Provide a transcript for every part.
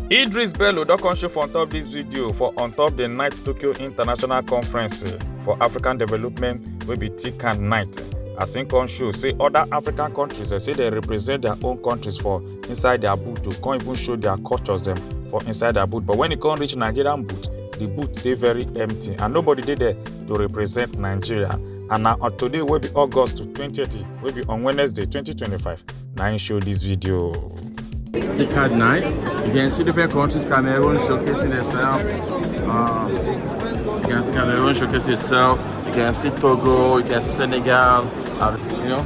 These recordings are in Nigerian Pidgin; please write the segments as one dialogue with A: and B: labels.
A: Idris Bello don come show for on top this video for on top the night Tokyo International Conference eh, for African Development wey be TICAD night. As im come show say other African countries eh, say they represent their own countries for inside their boot to come even show their cultures them for inside their boot but when e come reach nigerian boot the boot they very empty and nobody did there to represent nigeria and now on today will be august 2030 will be on wednesday 2025 Nine show this video Stick card nine you can see different countries cameroon showcasing itself uh, you can see cameroon showcasing itself you can see togo you can see senegal uh, you know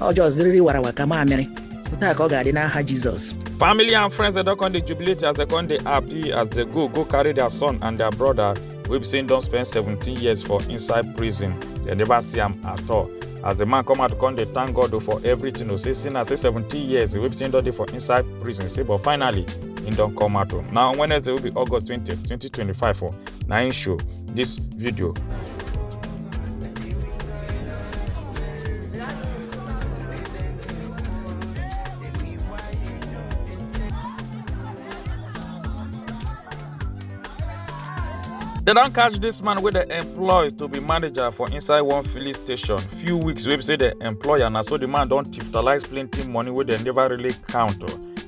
A: ọ just riri warawa ka mamịrị taa ka ọ ga-adị n'aha jizọs Family and friends dem don come dey jubilate as dem come dey happy as dem go go carry their son and their brother wey be say im don spend 17 years for inside prison. Dem never see am at all. As the man come out come dey thank God o for everything o say since I say 17 years wey be say im don dey for inside prison say but finally im don come out o. Na on Wednesday wey be August 20, 2025 o na im show this video. They don catch this man wey dem employ to be manager for inside one filling station few weeks wey be say dem employ am na so the man don tiftalize plenty money wey dem never really count.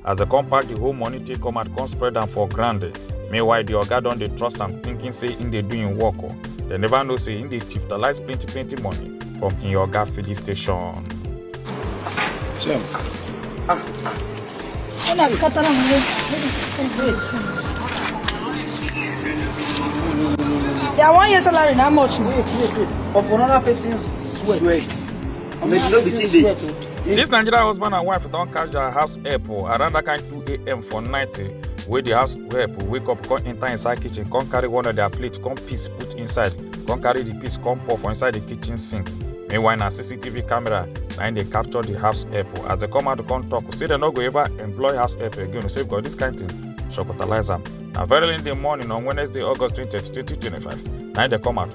A: as dem come pack the whole money take come out come spread am for ground meanwhile the oga don dey trust am thinking say im dey do im work o dem never know say im dey thiftalize plenty plenty money from im oga filling station. Shem. Ah, ah. Una scatter am away. Make it celebrate. Their one year salary na how much? Wait, wait, wait. Of another person's sweat. Sweat. Make you no be sin dey. This Nigerian husband and wife don catch their house help o around that kind 2 a.m. for night eh, wey the house help wake up come enter inside kitchen come carry one of their plate come piece put inside come carry the piece come pour for inside the kitchen sink. Meanwhile na CCTV camera na im dey capture the house help o as they come out come talk say they no go ever employ house help again o say because this kind thing shocotalize am. Na very early in the morning on Wednesday, August 20, 2025, na im dey come out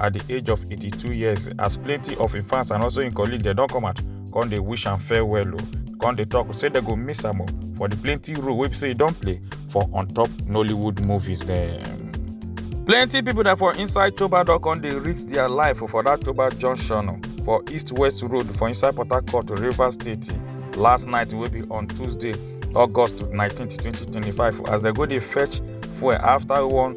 A: at di age of 82 years as plenty of im fans and also im colleagues dem don come out come dey wish am farewell o come dey talk say dem go miss am o for di plenty role wey be say e don play for on top nollywood movies dem. plenty pipo dem for inside choba don come dey risk dia life for dat choba junction for east west road for inside port harcourt rivers state last night wey be on tuesday august 19 2025 as dem go dey fetch fuel afta one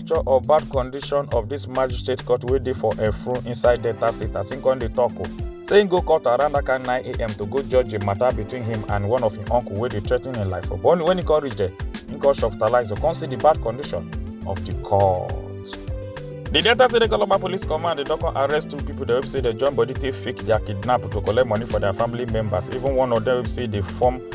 A: picture of bad condition of dis magistrate court wey dey for efrun inside delta state as im come dey tok o say im go court around dat kind 9am to go judge a matter between him and one of im uncle wey dey threaten im life for but only wen e come reach there im come shopitalize to come see di bad condition of di court. di delta state economic police command dey don come arrest two pipo dem wey be say dem join body take fake dia kidnap to collect money for dia family members even one of dem wey be say dey form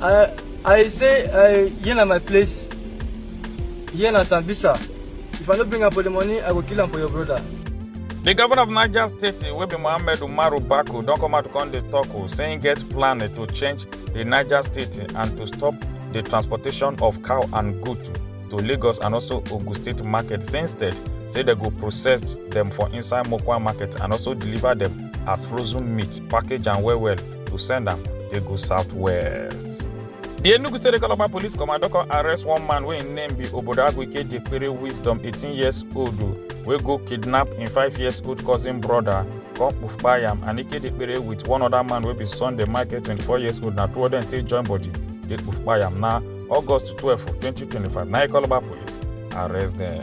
A: I I say I here na my place. Here na Sambisa. If I no bring am for the money, I go kill am for your brother. The governor of Niger State, wey be Mohammed Umaru Bako, don come out come dey talk o, say im get plan to change the Niger State and to stop the transportation of cow and goat to Lagos and also Ogun State market. Say instead, say dem go process dem for inside Mokwa market and also deliver dem as frozen meat, package am well well. to send am dey go southwest. di enugu state calabar police command don come arrest one man wey im name be obodo agwike jekpere wisdom 18 years old o, wey go kidnap im 5 years old cousin brother come kpufkpa yam and ike jekpere with one other man wey be sunday michael 24 years old na two of dem take join body dey kpufkpa yam na august 12 2025 na calabar police arrest dem.